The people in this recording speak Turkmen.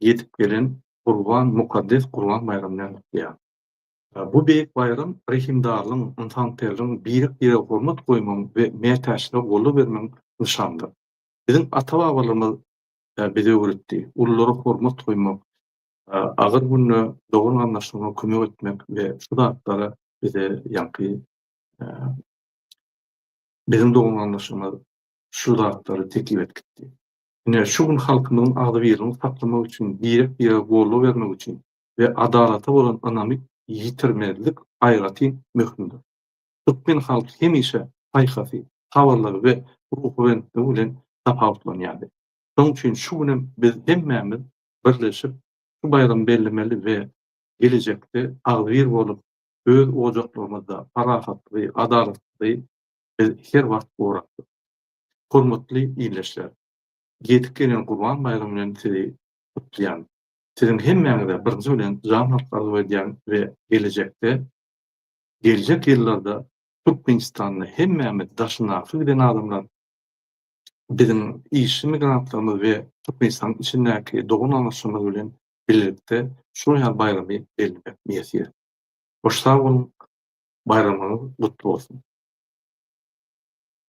ýetip gelen Gurban, mukaddes Gurban baýramy bilen gutlaýar. Bu beýik baýram rehimdarlygyň, ynsanperwerligiň, birek-birege hormat goýmagyň we mätäçlere goldaw bermegiň nyşanydyr. Biziň ata-babalarymyz bize öwretdi, ululara hormat goýmak, agyr günde dogan-garyndaşlaryňa kömek etmek we şu zatlar bize ýaňky biziň dogan-garyndaşlarymyz şu zatlary teklip edip gitdi. Ine, şu gün halkymyzyň agzybirligini saklamak üçin, birek-birege goldaw bermek üçin we adalata bolan ynamy ýitirmezlik aýratyn möhümdir. Türkmen halky hemişe paýhasy, sabyrlygy we ruhubelentligi bilen tapawutlanýardy. Şonuň üçin şu günem biz hemmämiz birleşip, şu baýramy bellemeli we gelejekde agzybir bolup, öz ojaklarymyzda parahatlygy, adalatlygy biz her wagt gorapdyr. Hormatly ildeşler! Ýetip gelen Gurban baýramy bilen sizi gutlaýan. Siziň hemmäňize birinji bilen jan saglyk arzuw edýän we gelejekde, geljek ýyllarda Türkmenistanda hemmämiz daşyndaky giden adamlar, biziň işçi migrantlarymyz we Türkmenistanyň içindäki dogan-gardaşlarymyz bilen bilelikde şular ýaly baýramy bellemek miýessi. Hoş sag boluň, baýramyňyz gutly bolsun!